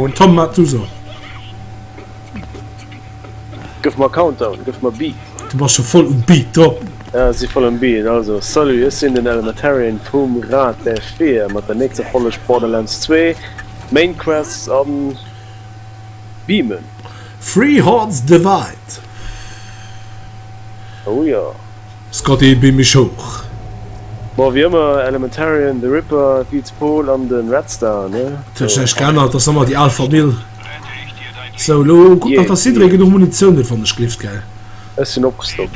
Un Tom mat du so. Gëff mer Countdown, gëff mer Beat. Du bass scho voll um Beat do. Ja, si voll um Beat. Also, salut, ech sinn den Elementarian vum Rad der Fear mat der nächster Folleg Borderlands 2, Maincrest an. Beamen. Three Hearts Divide. Oh jo. Scotty, beam mech hoch. Bon, wéi ëmmer, Elementarian, The Ripper, Beats Paul an den Red Star, ne? Dat huet sech näischt geännert, ass ëmmer déi al Famill. Sou, elo kuck nach, dass jidderee genuch Munitioun huet, wann ech gleeft, gell? Ech sinn opgestockt.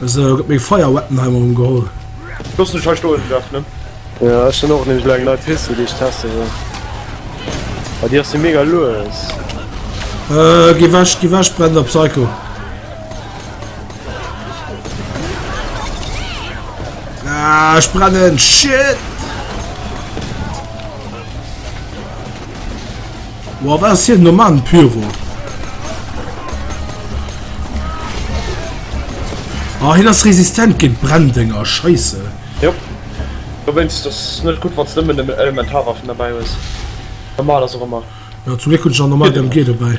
Esou, gëtt meng Fire Weapon hei mol erëm geholl. Looss mech hei stoen, Jeff, ne? Jo, ech hunn och nämlech elo eng nei Pistol, déi ech teste wëll. Mä déi ass jo mega lues. Äh, gi wech, gi wech, brennender Psycho. Ah, ech brennen, shit! Wow, wat ass hien do man, Pyro? Ah, hien ass resistent géint Brenndinger, scheisse. Jo. Du wéinst ass net gutt, wann s nëmmen nëmmen Elementarwaffen derbäi hues. Normal ass och ëmmer. Ja, zum Gléck hunn ech nach normal MG dobäi.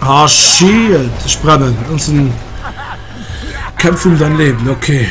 Ah, oh, shit. Ich brenne. Das ist Kämpfe um dein Leben. Okay.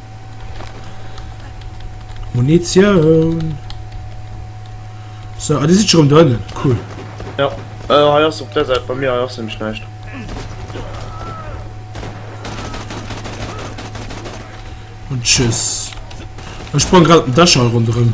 Munitioun. So, ah, die sind schon drinnen. Cool. Ja, äh, hier ist auf der Seite, bei mir hier ist nämlich nicht. Und tschüss. Ich sprang gerade einen Daschall rundherum.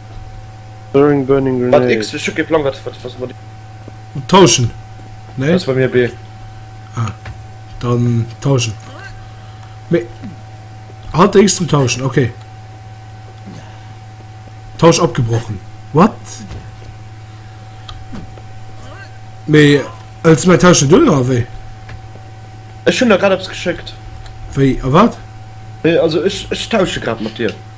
Throwing burning grenade. Wat X? Ech hu kee Plang wat wat was mat. Tauschen. Nee? Ass bei mir B. Ah. Dann tauschen. Me Hat X zum Tauschen, okay. Tausch abgebrochen. What? Me als mein Tauschen du oder wéi? Ech hunn der grad eppes geschéckt. Wéi a wat? Nee, also ech ech tausche grad mat dir.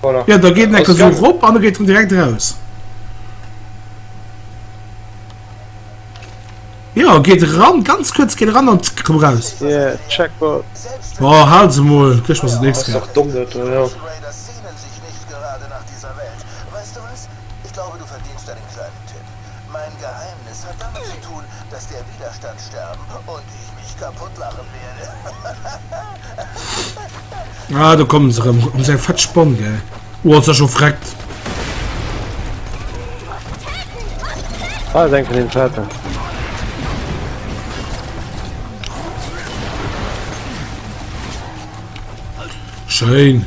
Voilà. Ja, da geet en ecker sou rop an da geet en direkt raus. Ja, geet ran, ganz kurz geet ran an komm raus. Yeah, Checkpoint. Oh, halt se mol, gëch was nächst. Das ist doch dumm, das, ja. Mein Geheimnis hat damit ze tun, dass der Widerstand sterben und ich mich kaputt lachen werde. Ah, do kommen se erëm. Huet mech eng fett Spann, gell? Oh, ass dat scho freckt! Ah, ass eng vun den Schwarzen. Schéin!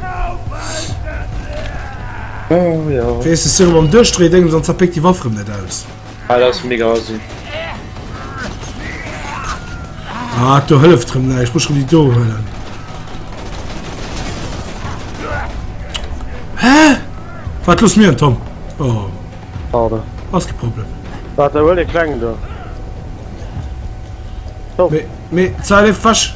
Oh, ja. Wees de Siro beim Duerchdréie Déngens an zerpéckt déi Waff rëm net aus. Ah, dat ass mega assi. Ah, do hëlleft rëm näischt. Ech muss rëm déi do huelen. Hä? Wat loss mir en Tom? Oh. Pardon. Ass ke Problem. Wat, da huel de Klengen do. Oh. Mee, mee, Zeile fasch.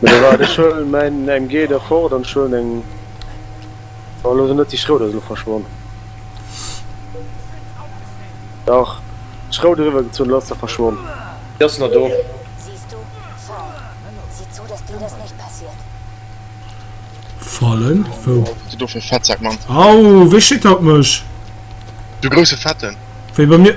Mee da war ech schon mein MG der fort an schon eng war lo net déi Schrouder se lo verschwonn. Dach Schrout eriwwer gezunn lass der verschwonn. Déi ass nach do. Fallen wou? Wat do fir Fettsak man. Au wee schitt haut mech? De grousse fetten. Wéi bei mir.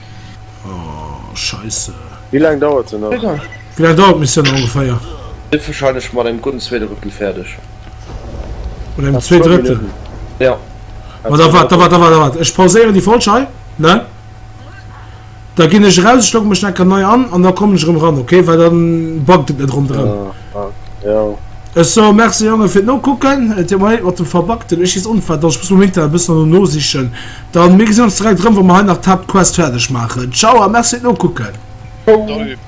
Oh, scheisse. Wéi laang dauert se nach? Wéi laang dauert d'Missioun ongeféier? Sidd wahrscheinlech mat engem gudden Zweedrëttel fäerdeg. Mat engem Zweedrëttel? Jo. Ma da waart, da waart, da waart, da waart. Ech pauséieren déi Folg hei, ne? Da ginn ech eraus, ech logge mech nach eng Kéier nei an an da kommen ech erëm eran, okay? Well da buggt et net ronderëm. Ech soe Merci Jongen fir d'Nokucken. Et huet mer leed mat dem Verbackten. Ech schiess onfäerdeg. Ech muss mam Internet e bëssen erno nosichen. Dann, mir gesinn ons direkt erëm, wa mer hei nach d'Haaptquest fäerdeg maachen. Ciao a Merci fir d'Nokucken. Salut.